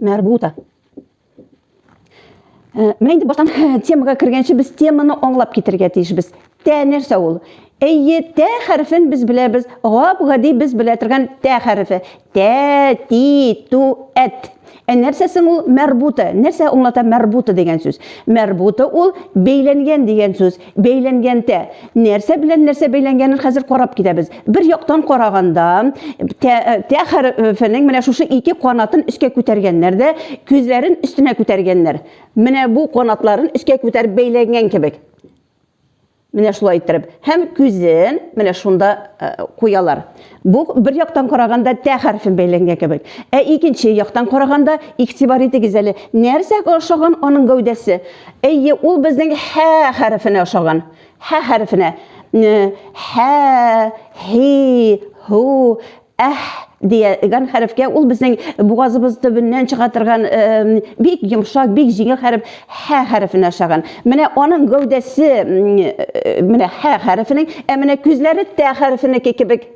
Мәрбута. Э, менә инде баштан темага кергәнче без теманы аңлап китергә тиешбез. Тә нәрсә ул? Әйе, тә хәрефен без беләбез. Гап гади без белә торган тә хәрефе. Тә, ти, ту, әт. Ә нәрсәсең ул мәрбута? Нәрсә аңлата мәрбута дигән сүз? Мәрбута ул бәйләнгән дигән сүз. бәйләнгәндә нәрсә белән нәрсә бәйләнгәнен хәзер карап китәбез. Бер яктан караганда, тә хәрефенең менә шушы ике канатын өскә күтәргәннәр дә, күзләрен өстенә күтәргәннәр. Менә бу канатларын өскә күтәреп бәйләнгән кебек. Менә шулай иттереп. Һәм күзен менә шунда куялар. Бу бер яктан караганда тә хәрфен бәйләнгән кебек. Ә икенче яктан караганда, игътибар итегез әле, нәрсәгә ошаган аның гәүдәсе? Әйе, ул безнең һә хәрефенә ошаган. Һә хәрефенә. Һә, һи, һу, әһ дигән хәрефкә ул безнең бугазыбыз төбеннән чыга торган бик йомшак, бик җиңел хәреф. Хә хәрефен ашаган. Менә аның гәүдәсе, менә хә хәрефенең, ә менә күзләре тә хәрефенеке кебек.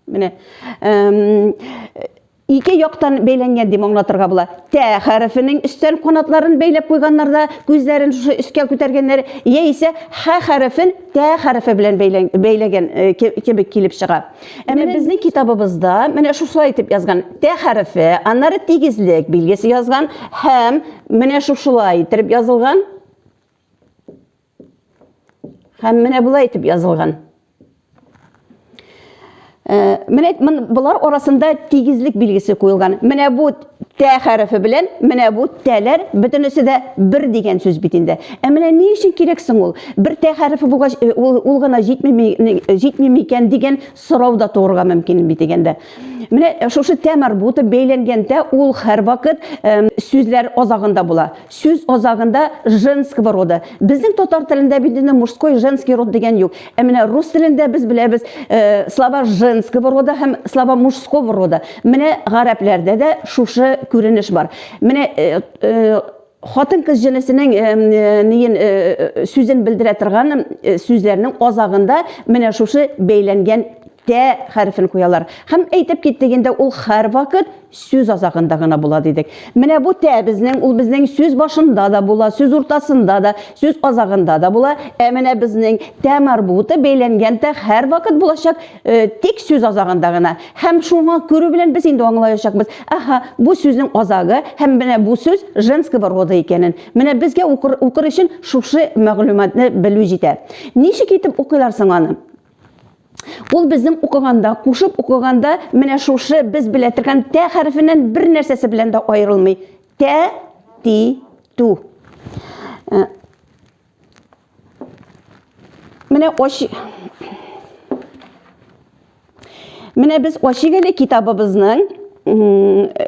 Менә ике яктан бәйләнгән дип аңлатырга була. Тә хәрефенең өстән канатларын бәйләп куйганнар да күзләрен шушы өскә күтәргәннәр, яисә хә хәрефен тә хәрефе белән бәйләгән кебек килеп чыга. Әмма безнең китабыбызда менә шушылай итеп язган. Тә хәрефе, аннары тигезлек билгесе язган һәм менә шушылай итеп язылган. Һәм менә болай итеп язылган. Э, менә булар арасында тигезлек билгесе куелган. Менә бу Тә хәрефе белән менә бу тәләр бөтенесе дә бер дигән сүз бит инде. Ә менә ни өчен кирәк соң ул? Бер тә хәрефе булгач, ул, ул гына җитмими, җитми микән дигән сорау да туырга мөмкин бит дигәндә. Менә шушы тә марбуты бәйләнгәндә ул һәрвакыт сүзләр азагында була. Сүз азагында женского рода. Безнең татар телендә бит инде мужской, женский род дигән юк. Ә менә рус телендә без беләбез э, слова женского рода һәм слова мужского рода. Менә гарәпләрдә дә шушы күренеш бар. Менә э, э, хатын кыз җенесенең э, э, ниен э, э, сүзен белдерә торган э, сүзләрнең азагында менә шушы бәйләнгән тә хәрефен куялар. Һәм әйтеп киттек инде, ул һәрвакыт Сүз азагында гына була дидек. Менә бу тә безнең, ул безнең сүз башында да була, сүз уртасында да, сүз азагында да була. Ә менә безнең тә марбуты бәйләнгән тә һәрвакыт булачак, э, тик сүз азагында гына. Һәм шуңа күрү белән без инде аңлаячакбыз, аһа, бу сүзнең азагы һәм менә бу сүз женского рода икәнен. Менә безгә укыр, укыр өчен шушы мәгълүматны белү җитә. Ничек итеп укыйлар соң аны? Ул безнең укыганда, кушып укыганда менә шушы без белә торган тә хәрефеннән бер нәрсәсе белән дә аерылмый. Тә, ти, ту. Э, менә оч... Менә без Ачигеле китабыбызның э,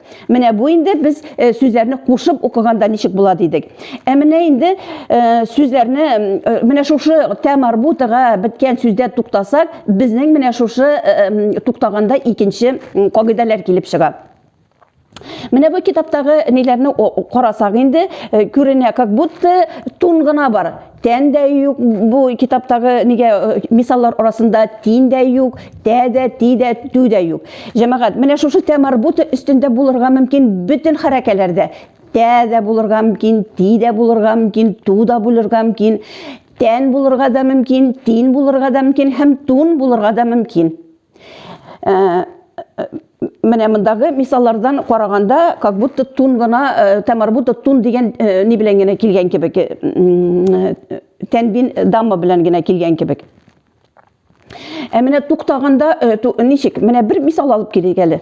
Менә бу инде без э, сүзләрне кушып укыганда ничек була дидек. Ә менә инде э, сүзләрне э, менә шушы тәмарбутага беткән сүздә туктасак, безнең менә шушы туктаганда икенче кагыйдәләр килеп чыга. Менә бу китаптагы ниләрне карасак инде күренә, как будто тун гына бар. Тән дә юк бу китаптагы нигә э, мисаллар арасында тин дә юк, тә дә, ти дә, ту дә юк. Җәмәгать, менә шушы тә марбута өстендә булырга мөмкин бөтен хәрәкәләрдә. Тә дә булырга мөмкин, ти дә булырга мөмкин, ту да булырга мөмкин, тән булырга да мөмкин, тин булырга да мөмкин һәм тун булырга да мөмкин. Э, менә мондагы мисаллардан караганда как будто тун гына э, тамарбута тун дигән э, ни белән генә килгән кебек э, тәнбин дама белән генә килгән кебек ә менә туктаганда ничек менә бер мисал алып килик әле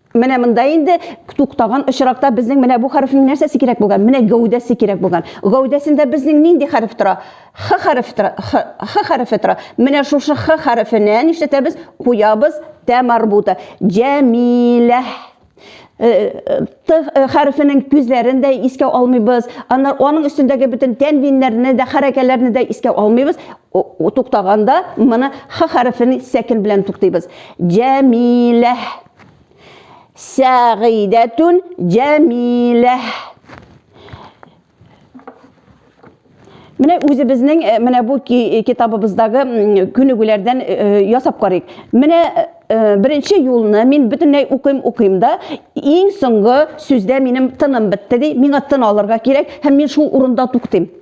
Менә монда инде туктаган очракта безнең менә бу хәрефнең нәрсәсе кирәк булган? Менә гәүдәсе кирәк булган. Гәүдәсендә безнең нинди хәреф тора? Х хәрефе тора. Х, х хәрефе тора. Менә шушы х хәрефенә нишләтәбез? Куябыз тә марбута. Җәмилә. Э, э, т э, хәрефенең күзләрен дә искә алмыйбыз. Аннар аның өстендәге бөтен тәнвиннәрне дә, хәрәкәләрне дә искә алмыйбыз. Туктаганда моны х хәрефен сәкин белән туктыйбыз. Җәмиләһ. Сәгыйдәтүн җәмиләһ. Менә үзебезнең э, менә бу э, китабыбыздагы күнегүләрдән э, ясап карыйк. Менә беренче юлны мин бөтенләй укыйм укыйм да, иң соңгы сүздә минем тыным бетте ди, миңа тын алырга кирәк һәм мин шул урында туктыйм.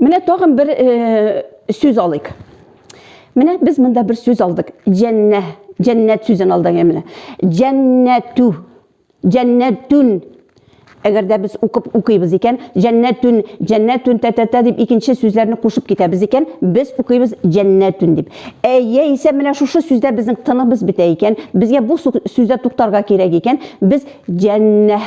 Менә тагын бер э, сүз алыйк. Менә без монда бер сүз алдык. Җәннә, җәннәт сүзен алдык менә. Җәннәтү, җәннәтүн. Әгәр дә без укып укыйбыз икән, җәннәтүн, җәннәтүн тәтәтә дип икенче сүзләрне кушып китәбез икән, без укыйбыз җәннәтүн дип. Ә яисә менә шушы сүздә безнең тыныбыз бетә икән, безгә бу сүздә туктарга кирәк икән, без җәннәһ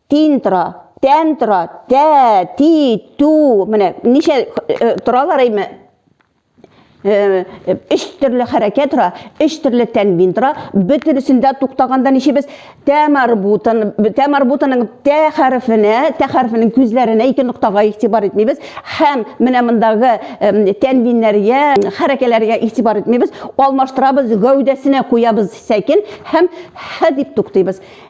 Тин тора, тән тора, тә, ти, ту. Менә ничә э, торалар әйме? Э, э, өч төрле хәрәкәт тора, өч төрле тәнвин тора. Бөтенесендә туктаганда ничебез? Тә марбутан, тә марбутаның тә хәрефенә, тә хәрефенең күзләренә ике ноктага игътибар итмибез. Һәм менә мондагы тәнвиннәргә, хәрәкәләргә игътибар итмибез. Алмаштырабыз, гәүдәсенә куябыз сәкин һәм һә дип туктыйбыз.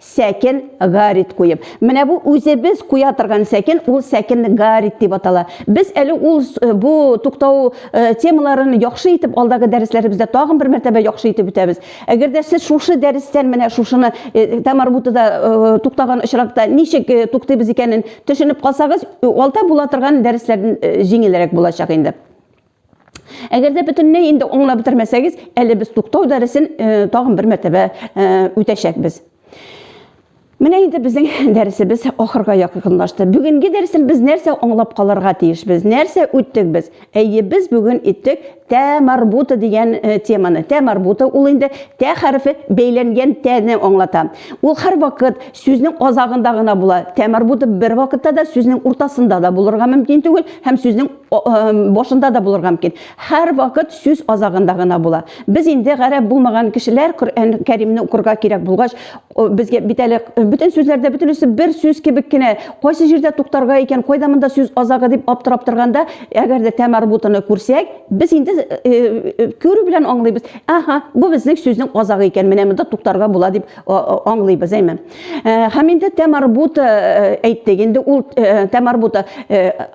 сәкен гарит куеп. Менә бу үзебез куя торган сәкен, ул сәкен гарит дип атала. Без әле ул э, бу туктау э, темаларын яхшы итеп алдагы дәресләребездә тагын бер мәртәбә яхшы итеп үтәбез. Әгәр дә сез шушы дәрестән менә шушыны э, Тамар бутыда туктаган очракта ничек туктыйбыз икәнен төшенеп калсагыз, алда була торган дәресләрдән җиңелрәк булачак инде. Әгәр дә бөтенләй инде аңлап бетермәсәгез, әле без туктау дәресен э, тагын бер мәртәбә э, үтәчәкбез. Менә инде безнең дәресебез ахырга якынлашты. Бүгенге дәресен без нәрсә аңлап калырга тиешбез? Нәрсә үттек без? Әйе, без бүген иттек тә марбута дигән э, теманы. Тә марбута ул инде тә хәрефе бәйләнгән тәне аңлата. Ул һәр вакыт сүзнең азагында гына була. Тә марбута бер вакытта да сүзнең уртасында да булырга мөмкин түгел һәм сүзнең башында да булырга мөмкин. Һәрвакыт сүз азагында гына була. Без инде гарәп булмаган кешеләр Коръән Кәримне укырга кирәк булгач, безгә бит әле бөтен сүзләрдә бөтенесе бер сүз кебек кенә, кайсы җирдә туктарга икән, кайда монда сүз азагы дип аптырап торганда, әгәр дә тәмәрбутыны күрсәк, без инде күрү белән аңлыйбыз. Аһа, бу безнең сүзнең азагы икән, менә монда туктарга була дип аңлыйбыз, әйме. Һәм инде тәмәрбуты әйттек, инде ул тәмәрбуты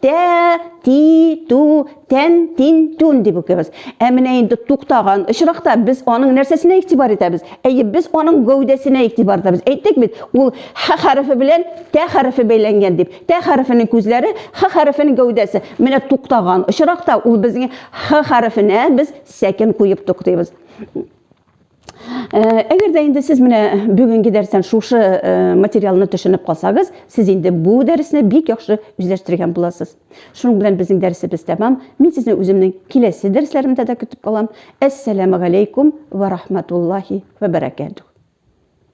Тә, ти, ту, тән, тин, тун дип укыйбыз. Ә менә инде туктаган очракта без аның нәрсәсенә игътибар итәбез? Әйе, без аның гәүдәсенә игътибар итәбез. Әйттек бит, ул х хәрефе белән тә хәрефе бәйләнгән дип. Тә хәрефенең күзләре, х хәрефенең гәүдәсе. Менә туктаган очракта ул безнең х хәрефенә без сәкен куеп туктыйбыз. Әгәр дә инде сез менә бүген гидәрсән шушы материалны төшенеп калсагыз, сез инде бу дәресне бик яхшы үзләштергән буласыз. Шуның белән безнең дәресебез тәмам. Мин сезне үземнең киләсе дәресләремдә дә көтеп калам. Әссәламу алейкум ва рахматуллахи ва баракатух.